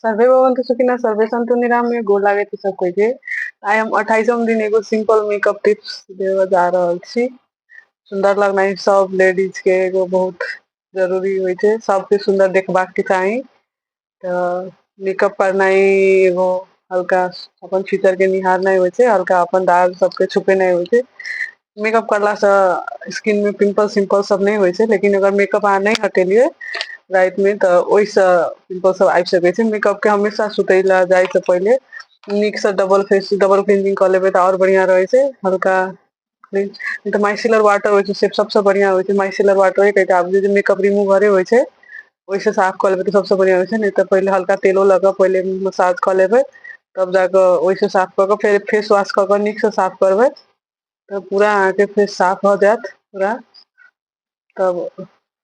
Survey भवन्तु सुखिनः सर्वे सन्तु निरामय गोर लागै छै सब कोई के आइ हम अट्ठाईसम दिन एगो सिंपल मेकअप टिप्स देव जा रहल छी सुंदर लगना सब लेडीज के एगो बहुत जरूरी हो छै सबके सुंदर देखबाक के चाही तो मेकअप करना एगो हल्का अपन फ्यूचर के निहारना हो छै हल्का अपन दाग सबके छुपेना हो छै मेकअप करला से स्किन मे पिम्पल सिम्पल सब नहि होइ छै लेकिन अगर मेकअप अहाँ नहि हटेलियै राति मे तऽ ओहिसँ पिम्पल सब आबि सकै छै मेकअप के हमेशा सुतय लए जाइ से पहिले नीक से डबल फेस डबल क्लीनिंग कऽ लेबै तऽ आओर बढ़िया रहै छै हल्का तऽ माइसिलर वाटर होइ छै से सबसँ बढ़िआँ होइ छै माइसिलर वाटर एक एकटा आब जे मेकअप रिमूवरे होइ छै ओहिसँ साफ कऽ लेबै तऽ सभसँ बढ़िआँ होइ छै नहि तऽ पहिले हल्का तेलो लऽ कऽ पहिले मसाज कऽ लेबै तब जाकऽ ओहिसँ साफ कऽ कऽ फेर फेसवाश कऽ कऽ नीकसँ साफ करबै तब पूरा अहाँके फेर साफ भऽ जायत पूरा तब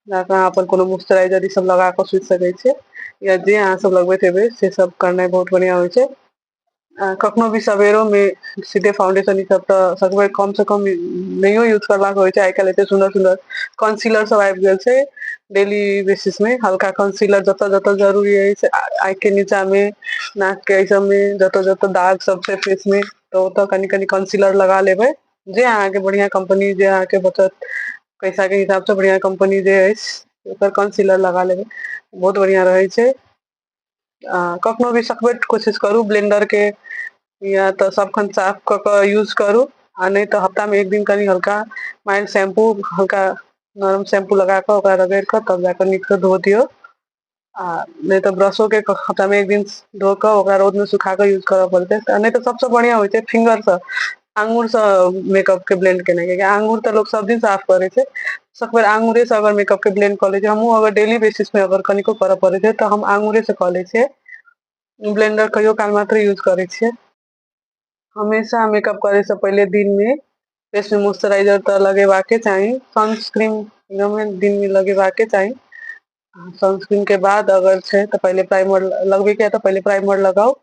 जाकऽ अहाँ अपन कोनो मॉइस्चराइजर ई सब लगा कऽ सुति सकै छियै या जे अहाँ सब लगबैत हेबै से सब करनाइ बहुत बढ़िआँ होइ छै आ कखनो भी सवेरोमे सीधे फाउंडेशन ई सब तऽ सकबै कम से कम नहियो यूज करबाक होइ छै आइ काल्हि एते सुन्दर सुन्दर कंसीलर सब आबि गेल छै डेली बेसिस मे हल्का कंसीलर जतऽ जतऽ जरूरी अछि आँखि के नीचा मे नाक के एहि सब मे जतऽ जतऽ दाग सब छै फेस मे तऽ ओतऽ कनि कनि कंसीलर लगा लेबै जे अहाँके बढ़िआँ कम्पनी जे अहाँके बचत पैसा के हिसाब से बढ़िया कम्पनी जे अछि ओकर कंसीलर लगा लेबै बहुत बढ़िया रहै छै आ कखनो भी सकबैर के कोशिश करू ब्लेंडर के या तऽ सबखन साफ कऽ क यूज करू आ नहि तऽ हफ्ता मे एक दिन कनि हल्का माइल्ड शैम्पू हल्का नरम शैम्पू लगा कऽ ओकरा रगैड़ कऽ तब जाकऽ नीक सँ धो दियौ आ नहि तऽ ब्रशो के हफ्तामे एक दिन धो कऽ ओकरा रौद मे सुखा कऽ यूज करऽ पड़तै नहि तऽ सबसँ बढ़िआं होइ छै फिंगर सँ आंगुर से मेकअप के ब्लेंड केनाइ कियाकि आंगुर तऽ लोग सब दिन साफ करै छै सकबेर आंगुरे से अगर मेकअप के ब्लेंड कऽ लै छी हमहूँ अगर डेली बेसिस पे अगर कनिको करऽ पड़ै छै तऽ हम आंगुरे से कऽ लै छियै ब्लेंडर कहियो काल मात्रे यूज करै छियै हमेशा मेकअप करे से पहले दिन में फेस में मॉइस्चराइजर तो लगेवा के चाहिए सनस्क्रीन एकदम दिन में लगेवा के चाहिए सनस्क्रीन के बाद अगर छे तो पहले प्राइमर लगबे के तो पहले प्राइमर लगाओ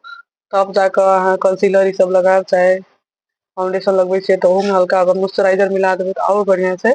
तब जाकर अहाँ कंसीलर ये सब लगाओ चाहे फाउंडेशन लगबे छे तो ओहू में हल्का अगर मॉइस्चराइजर मिला देबे तो और बढ़िया से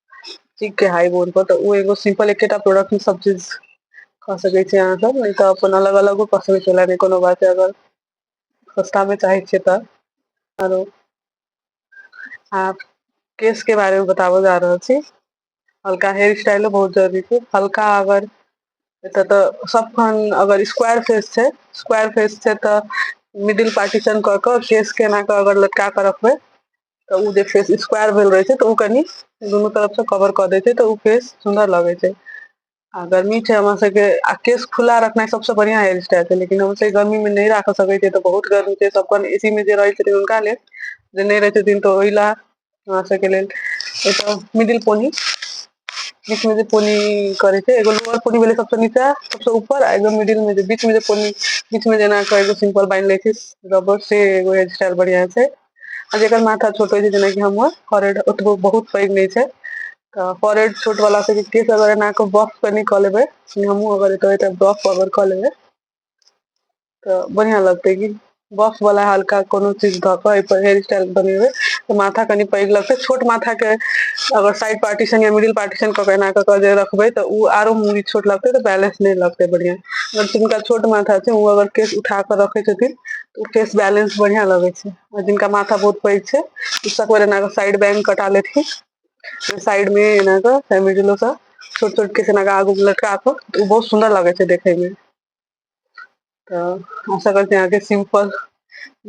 ठीक के हाइ बोर्ड पर तऽ ओ एगो सिम्पल एकेटा प्रोडक्टमे सब चीज कऽ सकै छी अहाँ सब नै तऽ अपन अलग अलगो कऽ सकै छी ओना नै कोनो बात छै अगर सस्ता मे चाहै छियै तऽ आरो आब केश के बारे मे बताबऽ जा रहल छी हल्का हेयर स्टाइलो बहुत जरूरी छै हल्का अगर एतऽ तऽ सब खन अगर स्क्वायर फेस छै स्क्वायर फेस छै तऽ मिडिल पार्टीशन कऽ कऽ केश के एना कऽ अगर लटका कऽ रखबै तऽ ओ जे फेस स्क्वायर भेल रहै छै तऽ ओ कनि दुनू तरफ से कवर कऽ दै छै तऽ ओ फेस सुन्दर लगै छै आ गर्मी छै हमरा सबके आ केश खुला रखनाइ सबसँ बढ़ियां हेयर स्टाइल छै लेकिन हम सब गर्मी मे नहि राख सकै छियै तऽ बहुत गर्मी छै सब अपन एसी मे जे रहै छथिन हुनका लेल जे नहि रहै छथिन तऽ ओहि लए हमरा सबके लेल एतऽ मिडिल पोनी बीच मे जे पोनी करै छै एगो लोअर पोनी भेलै सबसँ नीचा सबसँ ऊपर आ एगो मिडिल मे जे बीच मे जे पोनी बीच मे जेना कऽ एगो सिम्पल बान्हि लै छै रबर से एगो हेयर स्टाइल बढ़ियां छै आ जेकर माथा छोट होइ छै जेनाकि हमर फोरेड ओतबो बहुत पैघ नहि छै तऽ फोरेड छोट वाला सबके केस अगर एना कऽ बफ कनि कऽ लेबै हमहूँ अगर एतऽ एतऽ बफ अगर कऽ लेबै तऽ बढ़िआँ लगतै कि बफ वाला हल्का कोनो चीज धऽ कऽ एहिपर हेयर स्टाइल बनेबै तऽ माथा कनि पैघ लगतै छोट माथाके अगर साइड पार्टीशन या मिडिल पार्टीशन कऽ के एना कऽ कऽ जे रखबै तऽ ओ आरो मूवी छोट लगतै तऽ बैलेंस नहि लगतै बढ़िआँ अगर जिनका छोट माथा छै ओ अगर केस उठा कऽ रखै छथिन उ केश बैलेंस बढ़िया लगे छै और जिनका माथा बहुत पैग छै उ सब ओय एना के साइड बैंग कटा लेथीन उ साइड में एना के छोट-छोट केश एना के आगू में लटका के उ बहुत सुंदर लगे छै देखे में त आशा करे छीये आहां के सिंपल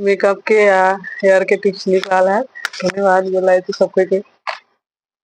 मेकअप के आ हेयर के टिप्स नीक लागल हैत धन्यवाद गोर लागे छी सब कोई के।